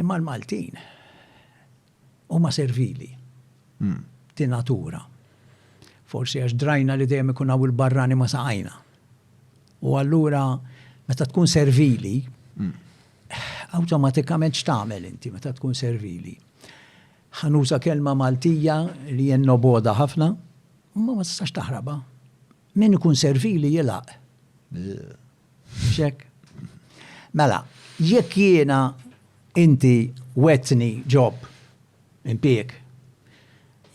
Imma l-Maltin huma servili de natura. Forsi għax drajna li dejjem ikun hawn il-barrani ma saqajna. U allura meta tkun servili, awtomatikament x'tagħmel inti meta tkun servili? Ħanuża kelma Maltija li hija noboda ħafna, imma ma tistax taħrabha. Min ikun servili jilgħaq. Check. Mela, jekk jiena inti wetni ġob impik,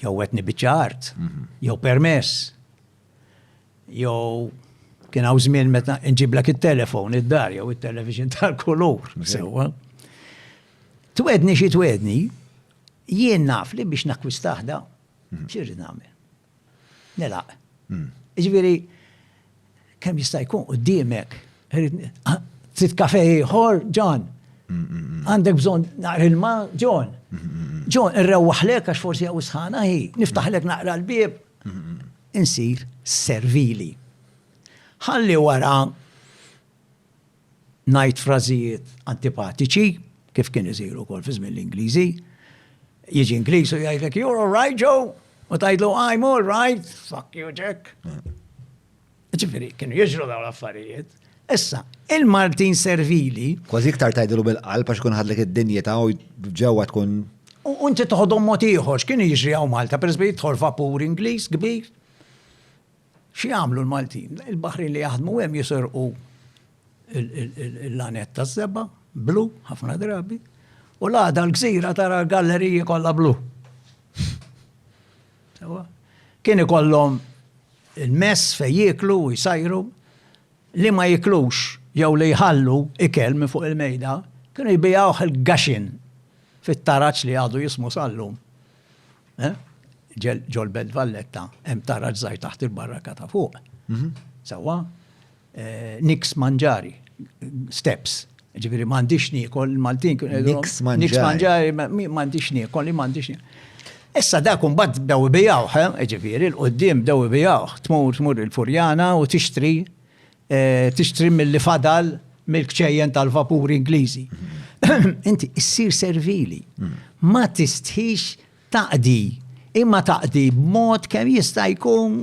jew wetni biċċa art, mhm. jew permess, jew kien hawn żmien meta nġiblek it-telefon id-dar jew it-television tal-kulur. Sewwa. Twedni xi twedni, jien naf li biex nakkwistaħda, mhm. xirrid nagħmel. Nilaq. Jiġifieri kemm jista' jkun quddiemek trid kafe ieħor, John. Għandek bżonn naqra ilma, John. John, irrewwaħlek għax forsi hawn sħana hi, niftaħlek naqra l-bieb. Insir servili. Ħalli wara ngħid frażijiet antipatiċi, kif kien isir ukoll fi żmien l-Ingliżi. Jiġi Ingliż u jgħidlek you're all right Joe, u tgħidlu I'm all right, fuck you Jack. Ġifieri kienu jiġru dawn l-affarijiet. Issa, il-Maltin servili. Kważi iktar tgħidlu bil-qalb għax kun ħadlek id-dinjità u ġewwa tkun U inti toħodhom mod ieħor, x'kien jiġri hawn Malta, pereżempju jidħol vapur Ingliż kbir. X'jagħmlu l-Maltin? Il-baħrin li jaħdmu hemm jiserqu l-lanet ta' żebba, blu, ħafna drabi, u l-għada l-gżira tara galleriji kollha blu. Kien ikollhom il-mess fej jiklu u jsajru li ma jiklux jew li jħallu ikel minn fuq il-mejda, kienu jbijawh il-gaxin fit-taraċ li għadu jismu sallum. Ġol Belt Valletta hemm taraġ żgħir taħt il-barraka ta' fuq. Mhm. Sewwa, eh, niks manġari, steps. Ġifieri m'għandix niekol Maltin. Niks manġari. Niks manġari, m'għandix niekol, m'għandix niekol. Issa dak imbagħad bdew ibijawh, eh, ġifieri l-qudiem bdew ibijawh, tmur tmur il-Furjana u tixtri tixtri milli fadal mill-kċejjen tal-vapuri Ingliżi. Inti issir servili. Hmm. Ma tistħix taqdi, imma taqdi b'mod kemm jista' jkun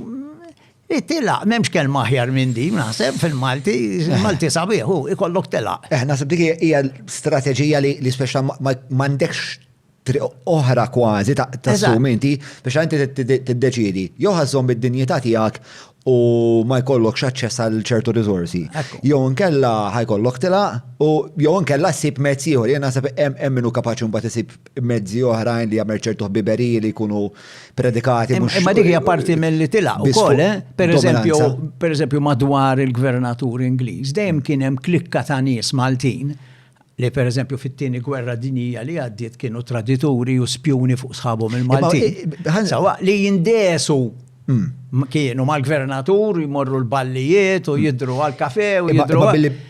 li tilaq, memx kelma aħjar minn din, naħseb fil-Malti, il-Malti sabiħu, ikollok tilaq. Eh, naħseb dik hija strateġija li speċa ma għandekx triq oħra kważi ta' tassum inti biex inti tiddeċidi jew ħażhom id-dinjità tiegħek u ma jkollokx aċċess għal ċertu riżorsi. Jew inkella ħajkollok tilaq u jew inkella ssib mezz ieħor. Jien naħseb hemm minnu kapaċi mbagħad isib mezzi oħrajn li jagħmel ċertu ħbiberiji li jkunu predikati mhux. Imma dik hija parti mill-li tilaq ukoll, eh? pereżempju, pereżempju madwar il-gvernatur Ingliż dejjem kien hemm klikka ta' nies Maltin li per eżempju fit-tieni gwerra dinija li għaddiet kienu tradituri u spjuni fuq sħabhom il-Malti. Sawa li jindesu hmm. kienu mal-gvernatur jmorru l-ballijiet u hmm. jidru għal-kafe u jidru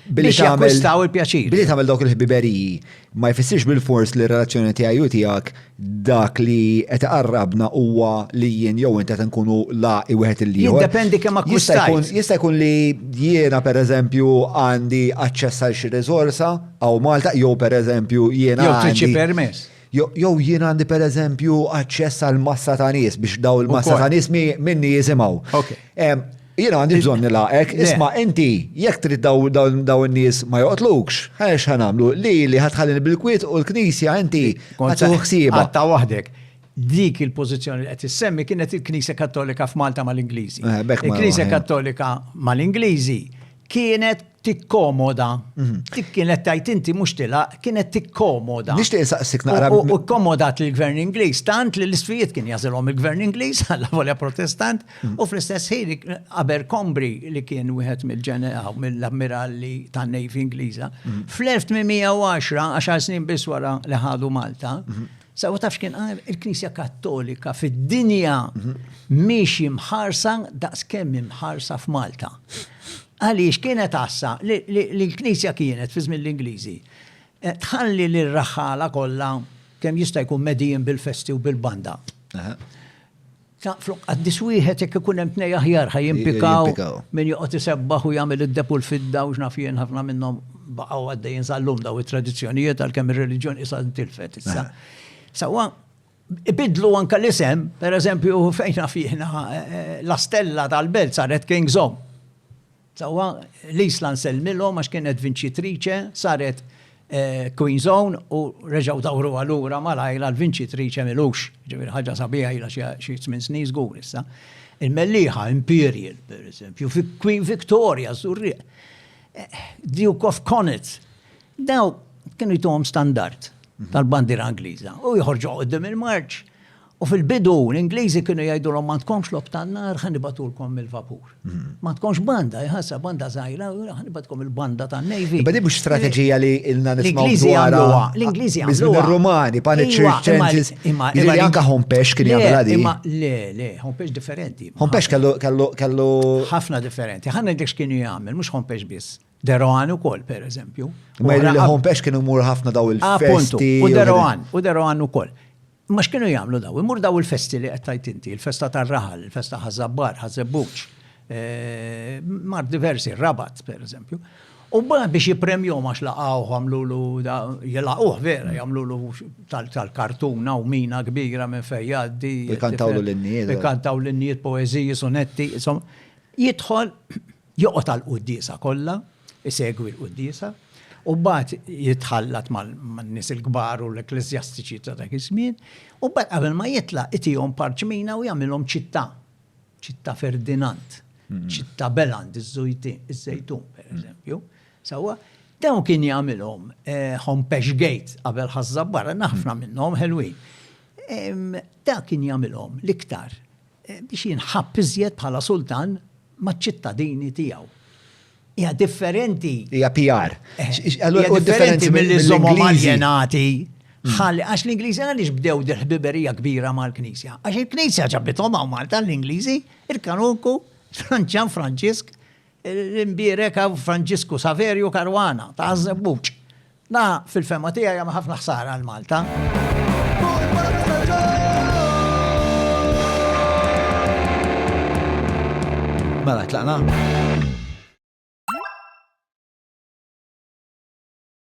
biex jakkwistaw il-pjaċir. Billi tagħmel dawk il-ħbiberiji ma jfissirx bil-fors li r-relazzjoni tiegħi u tiegħek dak li qed iqarrabna huwa li jien jew int qed inkunu laqi wieħed il-ieħor. Jiddependi kemm akkwistajt. Jista' jkun li jiena pereżempju għandi aċċess għal xi riżorsa hawn Malta jew pereżempju jiena. Jew trid xi permess. Jew jien għandi pereżempju aċċess għal massa ta' nies biex daw il-massa ta' nies minni jisimgħu. Jien għandi bżonn nilaqek, isma' inti jekk trid daw in-nies ma joqtlukx, ħarex ħa nagħmlu li li ħadħallin bil-kwiet u l-Knisja inti kont ħsieba. Qatta' waħdek. Dik il-pożizzjoni li qed issemmi kienet il-Knisja Kattolika f'Malta mal-Ingliżi. Il-Knisja Kattolika mal-Ingliżi kienet tikkomoda. Dik kienet tajt inti mhux tilaq, kienet tikkomoda. Nixtieq insaqsik naqra. U kkomodat lill-Gvern Ingliż tant li l-isfijiet kien jagħżilhom il-Gvern Ingliż għal volja Protestant u fl-istess ħin Abercrombie li kien wieħed mill-ammiralli tan-Navy Ingliża fl-1810, għaxar snin biss wara li ħadu Malta, Sawa taf x'kien qal il-Knisja Kattolika fid-dinja mhix imħarsa daqskemm imħarsa f'Malta. Għaliex kienet għassa li l-Knisja kienet fi żmien l-Ingliżi eh, tħalli li r-raħħala kollha kemm jista' jkun medijin bil-festi u bil-banda. Ta' flok qaddis wieħed jekk ikun hemm tnej aħjar ħaj jimpikaw min joqgħod isebbaħ u jagħmel id-deb u l-fidda u x'naf jien ħafna minnhom baqgħu għaddejjin sal-lum daw it-tradizzjonijiet għalkemm ir-reliġjon isa tilfet issa. Sawa ibidlu anka l-isem, per eżempju fejn naf jiena eh, eh, la stella tal-belt saret King's Home. Sewwa, l-Isla nsellmilhom għax kienet vinċitriċe, saret Queen's Own u reġgħu dawruha lura malajr għal vinċitriċe m'ilux. Jiġifieri ħaġa sabiħa ilha xi tmien snin żgur issa. Il-mellieħa Imperial, pereżempju, fi Queen Victoria ż-Żurrieq. Duke of Connaught. Daw kienu jtuhom standard tal-bandiera Ingliża u joħorġuha quddiem il-marċ U fil-bidu, l-Ingliżi kienu jgħidulhom ma tkomx lob tan-nar ħa nibatulkom mill-vapur. Mhm. Ma tkomx banda, jħassa banda żgħira, ħa nibatkom il-banda tan-Navy. Iba mhux strateġija li ilna nismaw dwarha. L-Ingliżi għamlu. Ir-Rumani, panic iva, changes. Imma iva, anka Hompex kien jagħmilha di. Imma le, le, Hompex differenti. Hompex kellu ħafna differenti. Ħanna dik x'kienu jagħmel, mhux Hompex biss. Deroan u kol, per eżempju. Ma jgħidu li Hompex kienu mur ħafna daw il-festi. U Deroan, u Deroan u kol. Imma x'kienu jagħmlu dawn? Imur daw il-festi li qed tgħid inti, il-festa tar-raħal, il-festa ħaż-żabbar, ħaż-żebbuġ, mar diversi, rabat pereżempju. U biex jipremjom għax laqgħu għamlulu jilaqgħuh vera, jagħmlulu tal-kartuna u mina kbira minn fejn jgħaddi. Ikantawlu l-innijiet. Ikantaw l-innijiet poeżiji, sonetti, insomma. Jidħol Joqgħod għall-quddiesa kollha, isegwi l-quddiesa, u mbagħad jitħallat man-nies il-kbar u l-ekkleżjastiċi ta' dak iż-żmien, u mbagħad qabel ma jitlaq itihom parċmina u jagħmilhom ċittà, ċittà Ferdinand, ċittà Beland, iż-Żejtun, pereżempju. Sewwa? Dawn kien jagħmilhom Hompesch Gate qabel Ħaż-Żabbara, ħafna minnhom ħelwin. Dak kien jagħmilhom l-iktar biex jinħabb iżjed bħala sultan maċ-ċittadini tiegħu. Hija differenti. Hija PR. Allura hu differenti milli żommhom aljenati. Ħalli għax l-Ingliżi għaliex bdew dil-ħbiberija kbira mal-Knisja. Għax il-Knisja ġabithom hawn Malta l-Ingliżi, il-Kanunku, Franċan Franġisk, l-imbierek Franġisku Saverju Karwana ta' Żebbuġ. Na, fil-fehma tiegħi jagħmel ħafna ħsara għal Malta. Mela, tlaqna.